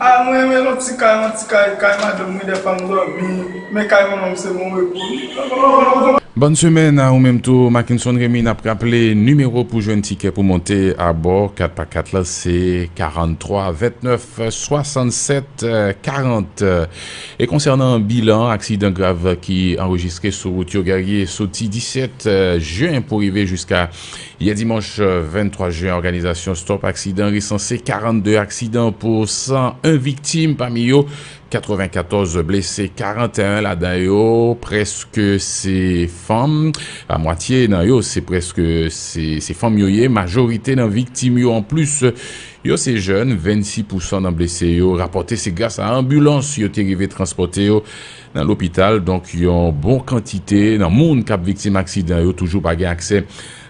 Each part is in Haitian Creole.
Ah mwen renmen lòt ti kay an ti kay kay madanm mwen dèfwa m dòmi men kay manman m se bon repo wi. Bòn semèn a ou menm tou Mackenson Remy nap raple nimewo pou jwenn tikè pou monte abò 4 pa 4 la se 43 29 67 40 e konsènan bilan aksidan grav ki anrejistre sou wout yo Guerrier soti 17 jen pou rive jiska Yè dimanch 23 jen òganizasyon Stop Aksidan resanse 42 aksidan pou 101 viktim pami yo 94 blese 41 ladan yo prèske se fanm a mwatye nan yo se prèske se fanm yo ye majorite nan viktim yo anplis yo se jèn 26 pousan nan blese yo rapòte se gras a anbilans yo te rive transpòte yo Nan lopital, donk yon bon kantite nan moun k ap viktim aksidan yo toujou pa gen aksè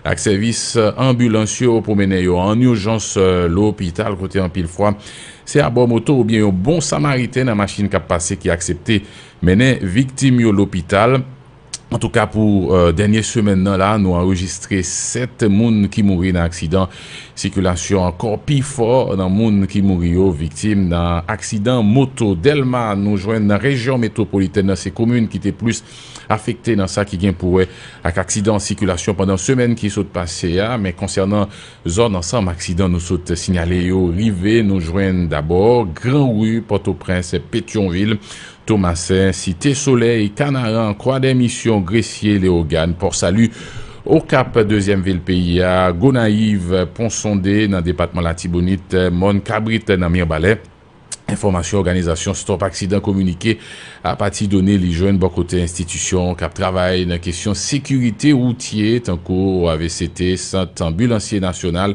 ak sèvis anbilans yo pou mennen yo ann ijans lopital kote anpil fwa se abò moto oubyen yon bon samariten nan machin k ap pase ki aksepte mennen viktim yo lopital. Antouka pou dènye semèn nan la nou anrejistre 7 moun ki mouri nan aksidan Sikilasyon kò pi fò nan moun ki mouri yo viktim nan aksidan moto Dèlma nou jwenn nan rejyon metwopolitèn nan se komin ki te plis afekte nan sa ki gen pou wè ak aksidan sikilasyon pandan semèn ki sot pase a men konsènan zòn ansanm aksidan nou sot sinyale yo rive nou jwenn dabò gran ri Pòtoprens Petyonvil Tomasen, Site Solèy, Kanaran, Kwadèmisyon, Gresye, Lewogàn, Pòsali, Okap, dezyèm vil peyi a, Gonayiv, Ponsonde, nan depatman Latibonit, Mòn Kabrit, nan Mirbalè. Enfòmasyon òganizasyon Stop Aksidan kominike apati done li jwenn bò kote enstitisyon k ap travay nan kesyon sekirite woutye tankou OAVCT, Sant Anbilansye Nasyonal,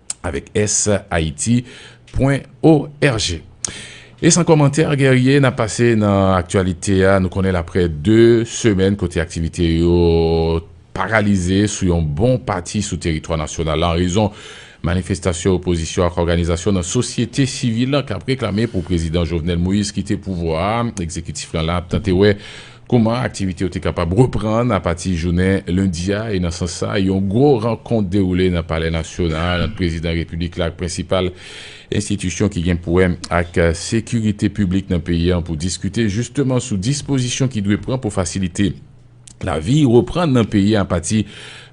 avèk s haiti pwen org. E san kòmantè Guerrier, n ap pase nan aktyalite a. Nou konnen l aprè 2 semèn kote aktivite yo paralize sou yon bon pati sou teritwa nasyonal la an rezon manifestasyon opozisyon ak òganizasyon nan sosyete sivil k ap reklame pou Prezidan Jovenel Moïse kite pouvwa a, egzekitif lan la ap tante wè Kouman aktivite yo te kapab reprann apati jounen lendi a e nan sans sa, yon gwo rankont dewoule nan Palè Nasyonal ant Prezidan Repiblik la ak prensipal enstitisyon ki gen pou wè ak sekirite piblik nan peyi an pou diskite jisteman sou dispozisyon ki dwe pran pou fasilite lavi reprann nan peyi a apati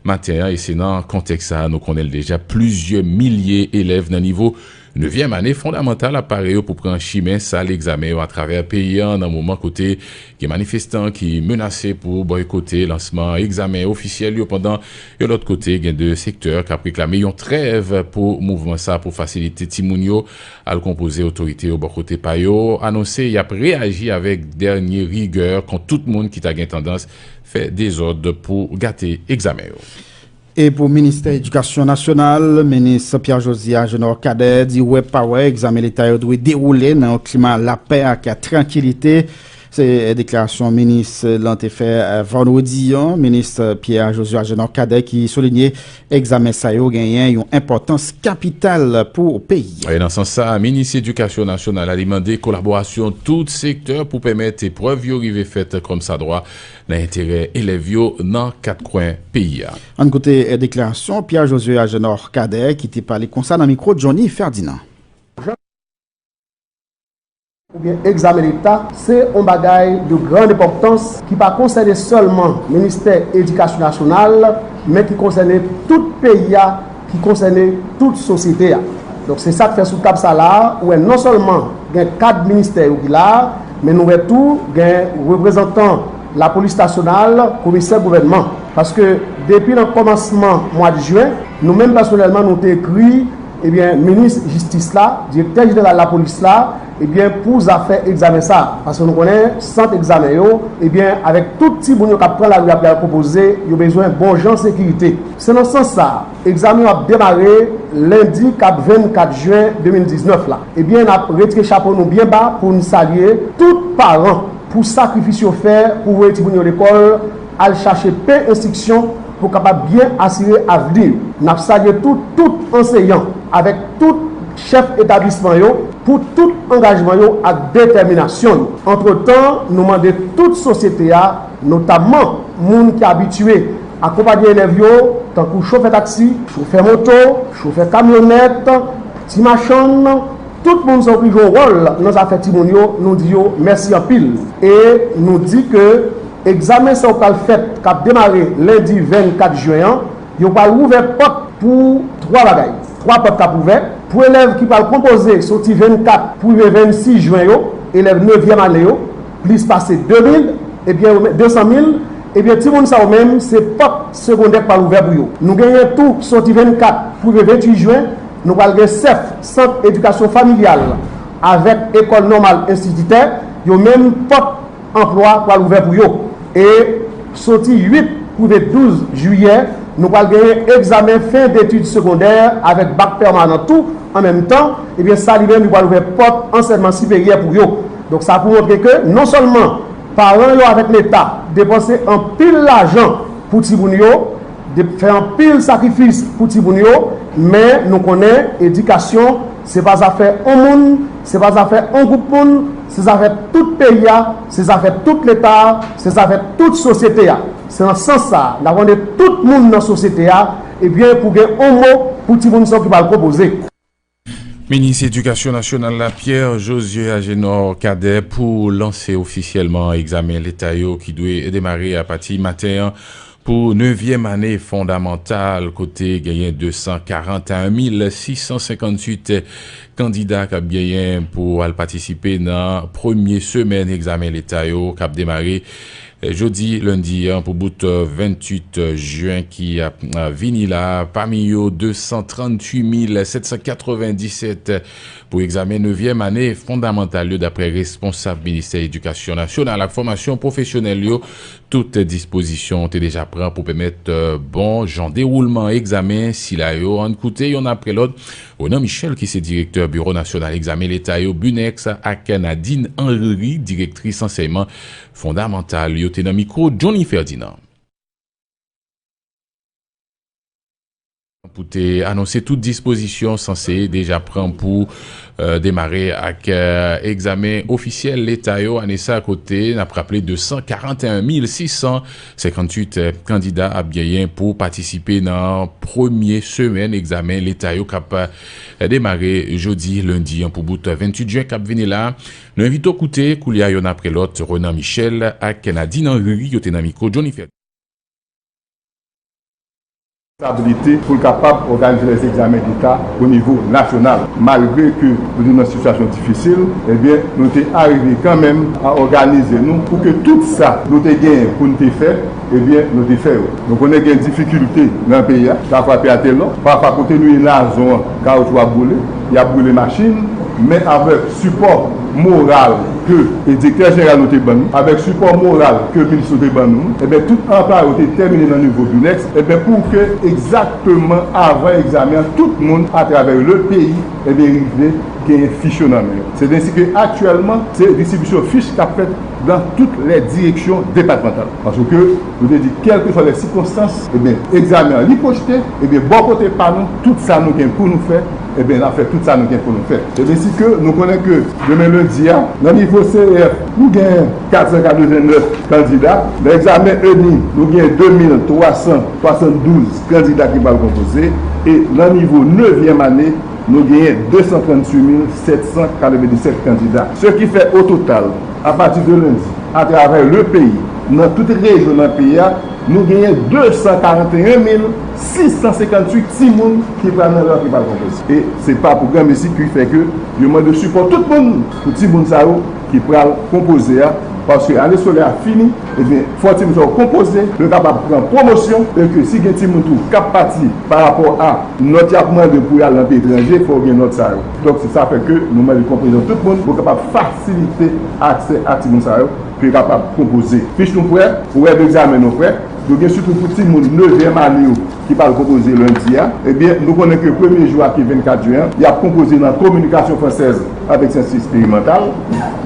maten an e se nan kontèks sa a nou konnen l deja plizyè milye elèv nan nivo Nevyèm ane fondamantal ap pare yo pou pran chimen sal egzamen yo atravè peyi an nan moman kote gen manifestan ki menase pou bòykote lansman egzamen ofisyèl yo pandan yon lòt kote gen 2 sektè kap reklame yon trèv pou mouvman sa pou fasilite timoun yo al konpoze otorite yo bò kote pa yo anonse yap reyaji avèk dènye rigè kont tout moun ki ta gen tandans fè dezòd pou gate egzamen yo. E pou Ministè Edikasyon Nasyonal, Minis Pierre Josiah Genor Cadet di wè pa wè egzamen leta yo dwe dewoule nan yon klima lapè ak trankilite. Se deklarasyon minis lan te fè vandredi an. Minis Pierre Josiah Genor Cadet ki soulinye egzamen sa yo genyen yon enpòtans kapital pou peyi a. E nan sans sa a, Minis Edikasyon Nasyonal la li mande kolaborasyon tout sektè pou pèmèt eprèv yo rive fèt kòmsadwa nan enterè elèv yo nan kat kwen peyi a. Ann koute deklarasyon Pierre Josué Agénor Cadet ki te pale konsa nan mikwo Johnny Ferdinand. Oubyen egzamen leta, se yon bagay de gran enpòtans ki pa konsène sèlman ministè edikasyon nasyonal, men ki konsène tout peyi a. ki konsène tout sosyete a. Donk se sa k fè sou tab sa la a, ou wè non sèlman gen kad ministè yo ki la a, men nou wè tou gen reprezantan lapolis nasyonal, komisè gouvènman. Paske depi nan kòmansman mwad jen, nou menm pèsonèlman nou te ekri, ebyen, minis jistis la, direktè jeneral lapolis la, Ebyen pou zafè egzamen sa, paske nou konnen sant egzamen yo, ebyen avèk tout timoun yo k ap pran lari a pral konpoze, yo bezwen bon jan sekirite. Se nan sans sa, egzamen yo ap demare lendi k ap 24 jen 2019 la. Ebyen n ap retire chapo nou byen ba pou n salye tout paran pou sakrifis yo fè pou voye timoun yo lekòl, al chache pen enstriksyon pou kapab byen asire avni yo. N ap salye tou tout anseyan avèk tout. chèf etablisman yo pou tout angajman yo ak detèminasyon yo. Antretan, nou mande tout sosyete a, notamman moun ki abitye akonpanye elèv yo, tankou chofè taksi, chofè moto, chofè kamyonèt, ti machann, tout moun sa yo ki jwe wòl nan zafè timoun yo, nou di yo mèsi anpil e nou di ke egzamen sa yo pral fèt k ap demare lendi 24 jen an, Yo pral ouvè pòt pou twa bagay. Twa pòt k ap ouvè pou elèv ki pral konpoze soti 24 pou rive 26 jen yo, elèv nevyèm ane yo, plis pase 2 mil, ebyen yo menm, 200 mil, ebyen timoun sa yo menm se pòt segondè k pral ouvè pou yo. Nou genyen tou soti 24 pou rive 28 jen, nou pral gen sèf, sant edikasyon familyal, avèk ekòl nòmal enstititè, yo menm pòt. Anplwa pral ouvè pou yo e soti 8 pou rive 12 jiyè, nou pral genyen egzamen fen detid segondè avèk bak pèmanan tou an menm tan, ebyen sa li menm li pral ouvè pòt ansèyman siperyè pou yo. Donk sa pou montre ke non sèlman paran yo avèk leta depanse anpil lajan pou timoun yo, fè anpil sakrifis pou timoun yo, men nou konnen edikasyon Se pa zafè on moun, se pa zafè on gwoup moun, se zafè tout peyi a, se zafè tout Leta a, se zafè tout sosyete a. Se nan sans sa a, n ap mande tout moun nan sosyete a, ebyen pou gen on mo pou timoun sa yo ki pral konpoze. Minis Edikasyon Nasyonal la, Pierre Josue Agénor Cadet pou lanse ofisyèlman egzamen Leta yo ki dwe demare apati maten an. Pou nevyèm ane fondamantal kote genyen 241658 kandida k ap genyen pou al patisipe nan premye semèn egzamen leta yo k ap demare jodi lendi an pou bout 28 jen ki ap vini la, pami yo 238797 pou egzamen nevyèm ane fondamantal yo daprè responsab ministè edikasyon nasyonal ak fòmasyon pwofesyonèl yo. Tout dispozisyon te deja pran pou pèmèt bon jan dewoulman egzamen sila yo, ann koute yonn apre lòt, Ronan Michel ki se direktè Biwo Nasyonal Egzamen Leta yo, BUNEX, ak Nadine Henry, direktris ansèyman fondamantal yo te nan mikwo Johnny Ferdinand. pou te anonse tout dispozisyon sanse deja pran pou demare ak egzamen ofisyèl leta yo ane sa kote n ap raple 241 mil 658 kandida ap genyen pou patisipe nan premye semèn egzamen leta yo k ap demare jodi lendi 1 pou bout 28 jen k ap vini la. Nou envite w koute koulye a yonn apre lòt Renan Michel ak Nadine Henry yo te nan mikwo Jhonny Ferdinand. stabilite pou l kapab òganize lè egzamen deta o nivo nasyonal malgre ke nou te nan sitiyasyon difisil ebyen nou te arive kanmenm a òganize nou pou ke tout sa nou te genyen pou n te fè ebyen nou te fè yo nou konnen gen difikilte nan peyi a sa frape a telò pafwa kote nou ye nazon an kawoutchou ap boule. Yap boule machine men avek sipò moral ke Direktè Jeneral nou te ban nou, avek sipò moral ke Minis nou te ban nou, eben tout anplwaye yo te tèmine nan nivo Binex, eben pou ke egzakteman avan egzamen an tout moun atravè le peyi eben rive genyen fich yo nan men yo. Se densi ke aktyèlman se distribisyon fich kap fèt dan tout lè direksyon depatmantal. Paske. Nou te di, kèlkeswa lè sikonstans, ebyen, egzamen an li pwojte, ebyen, bò kote pa nou, tout sa nou gen pou nou fè, ebyen, n ap fè tout sa nou gen pou nou fè. Ebyen, si ke nou konnen ke demen lendi a, nan nivo CEF, nou gen 489 kandida, nan egzamen ENI, nou gen 2372 kandida ki pral konpoze, e nan nivo nevyèm ane, nou genyen 238797 kandida. Se ki fè, ototal, A pati de lendi, atravè le peyi, nan tout rejyon nan peyi a, nou genyen 241 mil 658 timoun ki pral nan rantre pral konplète. E se pa pou granmesi ki fè ke yo mande sipò tout moun pou timoun sa yo ki pral konpoze a, paske ane skolè a fini, ebyen fò timoun sa yo konpoze pou yo kapab pran pwomosyon, e ke si gen timoun tou kap pati pa rapò a nòt yap mande pou yal nan peyi etranje, fò yo gen nòt sa yo. Donk se sa fè ke nou mande konpreyansyon tout moun pou kapab fasilite aksè a timoun sa yo pou yo kapab konpoze fich nou prè, orè degzamen nou prè, nou gen sitou pou timoun nevyèm ane yo ki pral konpoze lendi a, ebyen nou konnen ke premye jou a ki 24 jen an, y ap konpoze nan kominikasyon fransèz avèk syans esperimantal,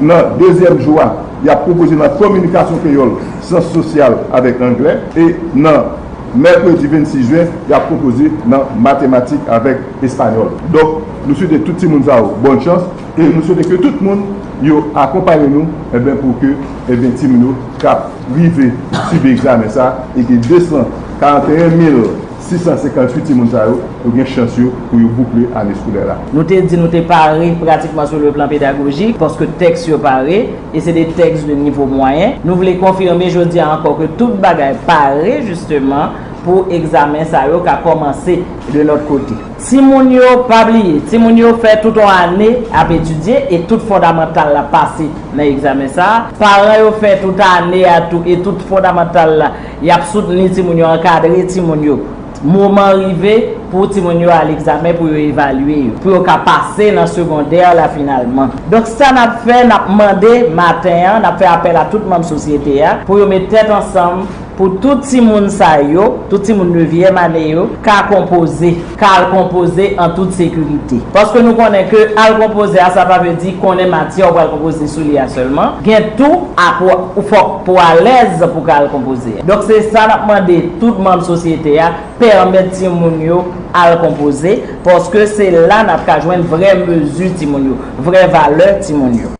nan dezyèm jou a y ap konpoze nan kominikasyon kreyòl, syans sosyal avèk anglè e nan. Mèkredi 26 jen y ap konpoze nan matematik avèk espanyòl. Donk nou swete tout timoun sa yo bòn chans e nou swete ke tout moun yo akonpanye nou enben pou ke enben timoun yo ka rive sibi egzamen sa e ke 241 mil 658 timoun sa yo yo gen chans yo pou yo boukle ane skolè la. Nou te di nou te pare pratikman sou le plan pedagojik paske tèks yo pare. e se de tèks de nivo mwayen, nou vle konfime jodi a ankò ke tout bagay pare jisteman pou egzamen sa yo ka kòmanse de nòt kote. Timoun yo pa bliye, timoun yo fè tout on ane ap etidye e tout fondamantal la pase nan egzamen sa a, paran yo fè tout ane a tou e tout fondamantal la, y ap soutni timoun yo, ankadre timoun yo. Moman an rive pou timoun yo al egzamen pou yo evalye yo, pou yo ka pase nan segondè la finalman. Donk sa n ap fè, n ap mande maten an, n ap fè apèl a tout manm sosyete a pou yo met tèt ansanm pou tout timoun sa yo, tout timoun nevyèm ane yo ka konpoze, ka al konpoze an tout sekirite. Paske nou konnen ke al konpoze a sa pa vle di konnen matyè ou pral konpoze sou li a sèlman, gen tou apwa ou fòk. Pou alèz pou ka al konpoze. Donk se sa n ap mande tout manm sosyete a, pèmèt timoun yo al konpoze, paske se la n ap ka jwenn vrè mezi timoun yo, vrè valè timoun yo.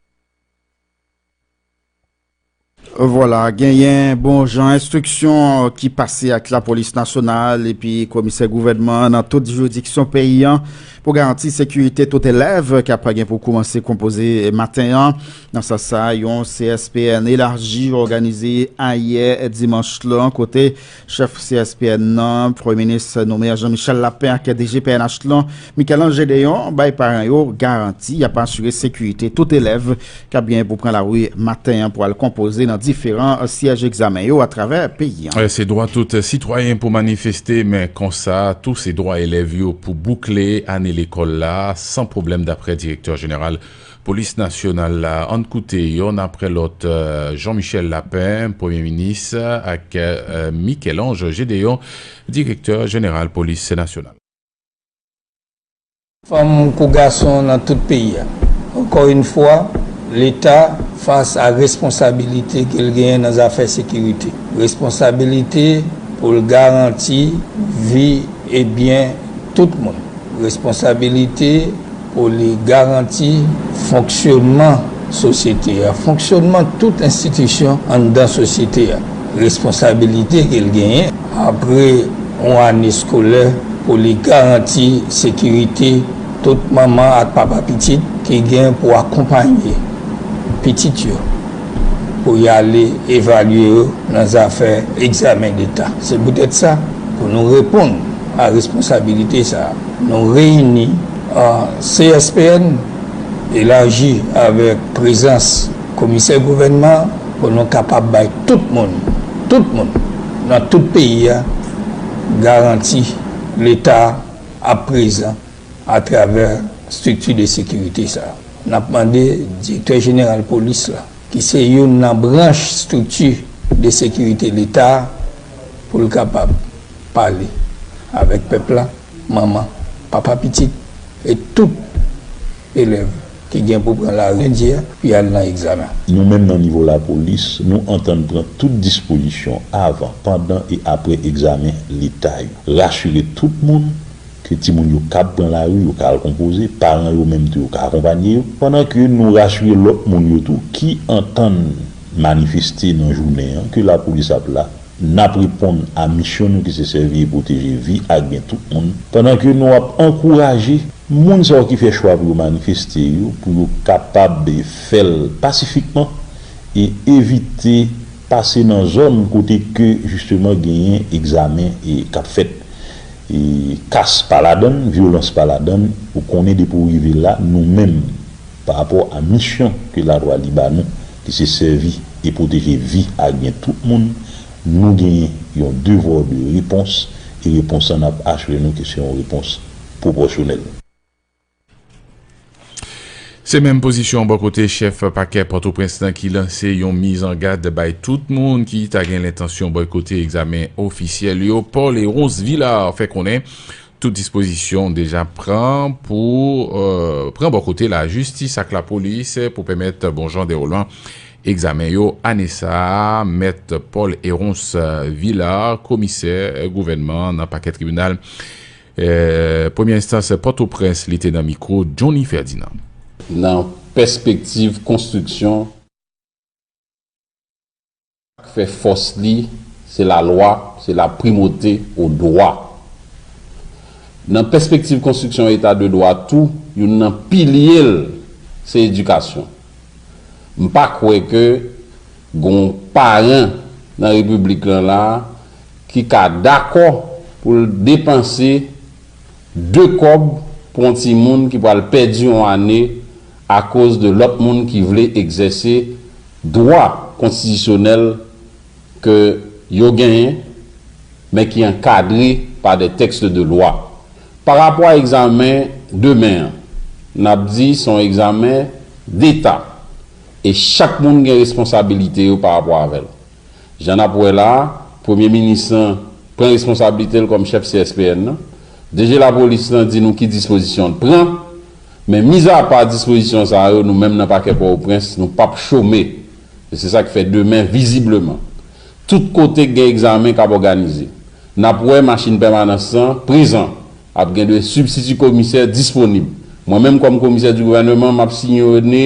Vwala, genyen bon jan enstriksyon ki pase ak lapolis nasyonal epi komisè gouvènman an nan tout jiridiksyon peyi an pou garanti sekirite tout elèv k ap gen pou koumanse konpoze maten an. Nan sans sa, yon CSPN elaji òganize ayè dimanch lan kote chèf CSPN nan, Premye Minis Nouméa Jean-Michel Lapin ak DG pnh lan, Michel-Ange Gédéon bay paran yo garanti y ap asire sekirite tout elèv k ap genyen pou pran lari maten an pou al konpoze nan diferan syèj egzamen yo atravè peyi an. Se dwa tout sitwayen pou manifeste, men konsa tou se dwa elèv yo pou boukle ane lekòl la san pwoblèm daprè Direktè Jeneral Polis Nasyonal la ann koute yonn aprè lòt Jean Michel Lapin, Premye Minis ak Michel Ange Gédéon, Direktè Jeneral Polis Nasyonal. Fanm kou gason nan tout peyi a. Ankò yn fwa, Leta fas a responsabilite ke l genyen nan zafè sekirite. Responsabilite pou l garanti vi e byen tout moun. Responsabilite. Pou li garanti fonksyonman sosyete a, fonksyonman tout enstitisyon anndan sosyete a, responsabilite ke l genyen, apre yon ane skolè, pou li garanti sekirite tout manman ak papa pitit ki gen pou akonpanye pitit yo pou y ale evalye yo nan zafè egzamen deta. Se poutèt sa, pou nou reponn a responsabilite sa a, nou reyini. CSPN elaji avèk prezans komisè gouvènman an pou nou kapab bay tout moun, tout moun nan tout peyi a garanti Leta ap prezan atravè strikti de sekirite sa a. N ap mande Direktè Jeneral Polis la, ki se youn nan branch strikti de sekirite Leta a, pou l kapab pale avèk pèp la. Manman, papa pitit e tout elèv ki gen pou pran lari lendi a pou y al nan egzamen. Nou menm nan nivo lapolis, nou antann pran tout dispozisyon avan, pandan e apre egzamen Leta yo. Rasire tout moun ke timoun yo kab pran lari, yo ka al konpoze, paran yo menm tou yo ka akonpanye yo, pandan ke nou rasire lòt moun yo tou ki antann manifeste nan jounen an ke lapolis ap la N ap reponn a misyon nou ki se sèvi e pwoteje vi ak byen tout moun, pandan ke nou ap ankouraje moun sa yo ki fè chwa pou yo manifeste yo pou yo kapab fè l pasifikman e evite pase nan zòn kote ke jisteman genyen egzamen k ap fèt. Kas pa ladan l, vyolans pa ladan l, ou konnen depi w rive la, nou menm. pa rapò a misyon ke lalwa li ba nou, ki se sèvi e pwoteje vi ak byen tout moun, nou genyen yon devoir de réponse e repons an nap asire nou ke se yon repons pwopòsyonèl. Se menm pozisyon bò kote chèf pakè Pòtoprens lan ki lanse yon miz an gad bay tout moun ki ta gen lentansyon bòykote egzamen ofisyèl yo. Paul Héronce Villard fè konnen Tout dispozisyon deja pran pou pran bò kote lajistis ak lapolis pou pèmèt bon jan dewoulman egzamen yo ane sa a, Mèt Paul Héronce Villard, komisè gouvènman nan pakè tribinal premyè enstans Pòtoprens li te nan mikwo Johnny Ferdinand. Nan pèspektiv konstriksyon. Sak fè fòs li se la lwa, se la primote o dwa. Nan pèspektiv konstriksyon yon eta de dwa tou, youn nan pilye l se edikasyon. M pa kwè ke gon paran nan repiblik lan la ki ka dakò pou l depanse de kòb pou yon timoun ki pral pèdi yon ane akoz de lòt moun ki vle egzèse dwa konstitisyonèl ke yo genyen men ki ankadre pa des textes de loi. Pa rapò a egzamen demen an, n ap di se yon egzamen deta e chak moun gen responsabilite yo pa rapò avè l. Jan n ap wè la, Premye minis lan pran responsablite l kòm chèf CSPN nan. DG Lapolis lan di nou ki dispozisyon l pran. Men mizapa dispozisyon sa yo, nou menm nan pakè Pòtoprens, nou p ap chome. E se sa k fè demen, vizibleman, tout kote k gen egzamen k ap òganize, n ap wè machin pèmanans lan prezan. Ap gen 2 sibstiti komisè disponib. Mwen menm kòm komisè di gouvèneman, m ap siyone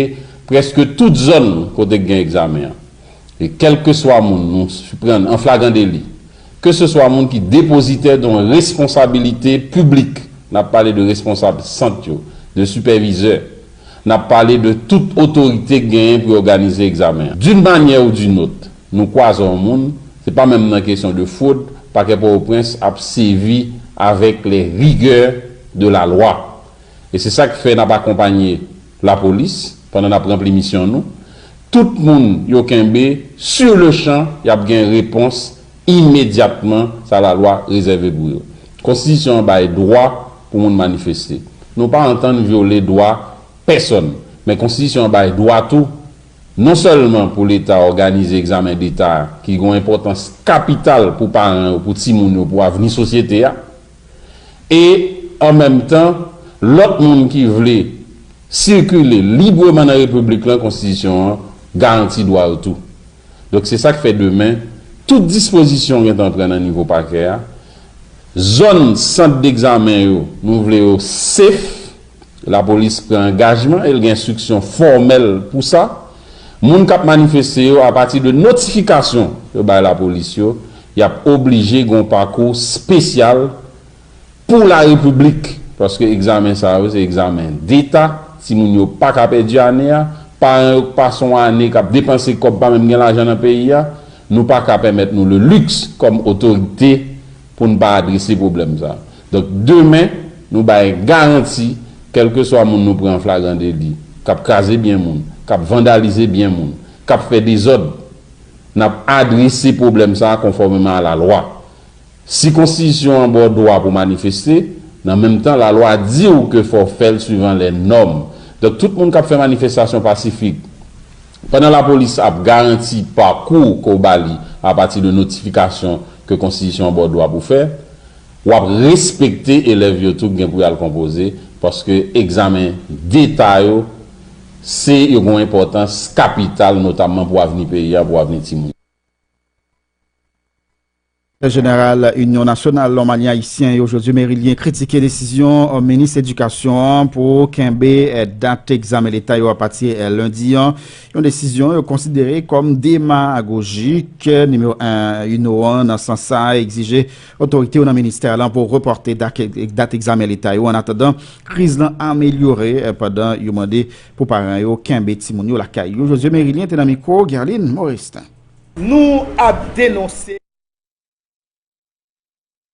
prèske tout zòn kote k gen egzamen an. e kèlkeswa moun nou siprann an flagran deli, keseswa moun ki depozitè don responsabilite piblik, n ap pale de responsab sant yo, de sipèvizè, n ap pale de tout otorite k genyen pou yo ganize egzamen an. D'une manière ou d'une autre, nou kwaze yon moun, se pa menm nan kesyon de fwod, Pakè Pòtoprens ap sevi avèk les rigueurs de la loi. E se sa k fè n ap akonpanye lapolis pandan n ap ranpli misyon nou, Tout moun yo kenbe, sur le champ, y ap gen repons imedyatman sa lalwa rezève pou yo. Konstitisyon an bay dwa pou moun manifeste. Nou pa antann vyole dwa pèsonn. Men konstitisyon an bay dwa tou, non sèlman pou Leta òganize egzamen deta ki gen yon enpòtans kapital pou paran yo, pou timoun yo, pou avni sosyete a, e an menm tan lòt moun ki vle sikile libreman nan repiblik lan konstitisyon an garanti dwa yo tou. Donk se sak fè demen tout dispozisyon gentan pran nan nivo pakè a, zòn sant degzamen yo nou vle yo safe. Lapolis pran angajman e l gen enstriksyon fòmèl pou sa. Moun k ap manifeste yo, apati de notifikasyon yo bay lapolis yo, y ap oblije gen yon pakou spesyal pou larepiblik, paske egzamen sa yo se egzamen deta, timoun yo pa ka pèdi ane a, paran yo k pa se yon ane k ap depanse kòb pa menm gen lajan nan peyi a. Nou pa ka pèmèt nou le luxe kòm otorite pou n pa adrese pwoblèm sa. Donk demen, nou bay garanti, kèlkeswa moun nou pran an flagran deli, k ap kraze byen moun, k ap vandalize byen moun, k ap fè dezòd, n ap adrese pwoblèm sa konfòmeman a lalwa. Si konstitisyon an ba w dwa pou manifeste, nan menm tan lalwa di w ke fò w fè l suivan lè nòm. Donk tout moun k ap fè manifestasyon pasifik, Pandan lapolis ap garanti pakou ke w ba li apati de notifikasyon ke konstitisyon an ba w dwa pou fè, w ap respekte elèv yo tou gen pou y al konpoze paske egzamen deta yo se yo gen yon enpòtans kapital notamman pou avni peyi a, pou avni timoun yo. Sekrètè jeneral Inyon nasyonal Lòmani Ayisyen yo, Josué Mérilien, kritike desizyon minis edikasyon an pou kenbe dat egzamen leta yo apati lendi an, yon desizyon yo konsidere kòm demagojik. Nimewo 1 Uno an nan sans sa a egzije otorite yo nan ministè lan pou repòte dat egzamen leta yo annatandan kriz lan amelyore pandan yo mande pou paran yo kenbe timoun yo lakay yo. Josué Mérilien te nan mikwo Guerline Morestin. Nou ap denonse yo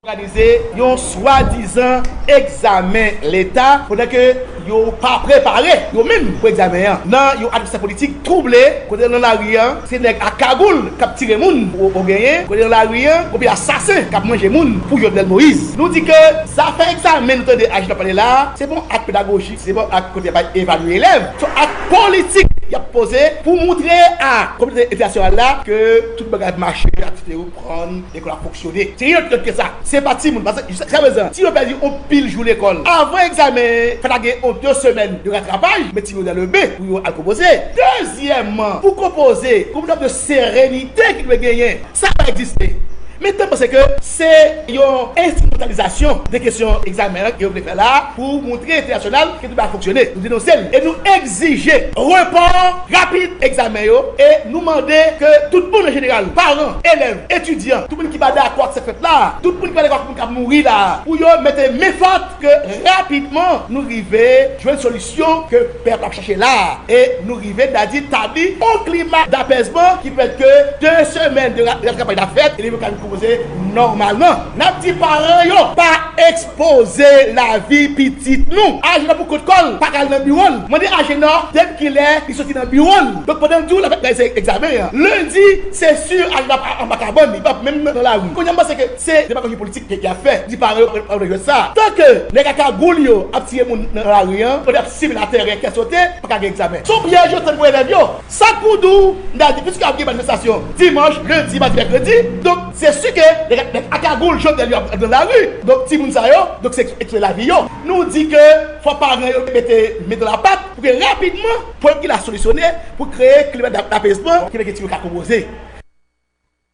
òganize yon swadizan egzamen leta pandan ke yo pa prepare yo menm pou egzamen an nan yon atmosfè politik twouble kote nan lari an se nèg ak kagoul k ap tire moun ou genyen kote nan lari an konbyen asasen k ap manje moun pou Jovenel Moïse. Nou di ke zafè egzamen nou tande Agit ap pale la a se pa yon ak pedagoji. Se bon ak kote y ap evalye elèv, se ak politik y ap poze pou moutre a kominote entènasyonal la ke tout bagay ap mache, ke aktivite yo pran, lekòl ap fonksyone. Se reyèl pito ke sa. Se pa timoun, paske jiskaprezan timoun pèdi yon pil jou lekòl avan egzamen, fè ta gen yon de semèn de ratrapaj, met timoun yo dan le ben pou yo al konpoze. Dezyèmman, pou konpoze, gen yon fòm de serenite ki dwe genyen. Sa pa egziste. Men, mwen panse ke se yon enstrimentalizasyon de kesyon egzamen an ke yo vle fè la a. pou montre entènasyonal ke tout bagay fonksyone, nou denonse l e nou egzije repò rapid egzamen yo e nou mande ke tout moun an jeneral, paran, elèv, etidyan, tout moun ki pa dakò ak sa k fèt la a, tout moun ki pa dakò ak moun k ap mouri la a, pou yo mete men fòt ke rapidman nou rive jwenn solisyon ke pèp la ap chache la a e nou rive ta di tabli yon klima dapèzman ki pèmèt ke 2 semèn de ratrapay ta fèt e leve yo ka vin kòmanse nòmalman. N ap di paran yo pa. Poze lavi pitit nou. Agenor pou kont kòl pa ka al nan biwol mande agenor dep kilè li soti nan biwol donk pandan di w lap reyalize egzamen an lundi se sur agenor ap anba kabann li pap menm nan lari kounya m panse ke se demagoji politik ke yap fè di paran yo pa vle jwèt sa tan ke nèg a kagoul yo ap tiye moun nan lari an pandan yap sibi laterè kè sote pa ka gen egzamen son pyèj yo tann pou elèv yo. Sak pou di w, m ta di piske ap gen manifestasyon dimanch, lendi, madi, mèkredi, donk se su ke nèg ak nèg a kagoul Jovenel yo ap nan lari, donk timoun sa yo, donk se ekswe lavi yo. Nou di ke fò paran yo mete men dan la pat pou ke rapidman pwoblèm ki la solisyone pou kreye klima dapezman ki mèt gen ti yo ka konpoze.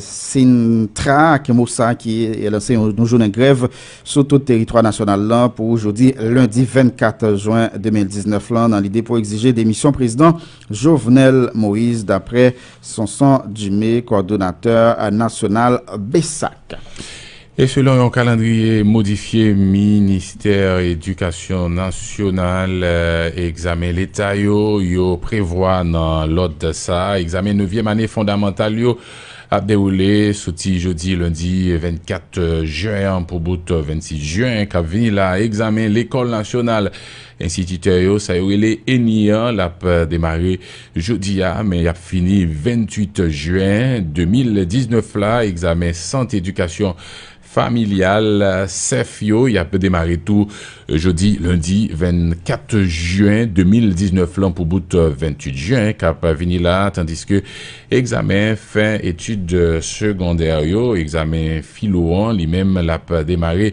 Sintra ak MOSA ki lanse yon jounen grèv sou tout teritwa nasyonal lan pou jodi lendi 24 jwen 2019 lan nan lide pou egzije demisyon prezidan Jovenel Moise daprè Sonson Dumé kòdonatè nasyonal BSAC. E selon yon kalandriye modifye Ministè Edikasyon Nasyonal, egzamen leta yo, yo prevwa nan lòd sa a, egzamen nevyèm ane fondamantal yo ap dewoule soti jodi lendi 24 jen an pou bout 26 jen kap vini la a. Egzamen lekòl nasyonal enstititè yo, sa yo rele ENI an, l ap demare Jodi a, men y ap fini 28 jen 2019 la, egzamen Sant Edikasyon Familyal, sèf, yo, y ap demare tou jodi lendi 24 jen 2019 lan pou bout 28 jen k ap vini la, tandiske egzamen fen etid segondè yo, egzamen filo an, li menm l ap demare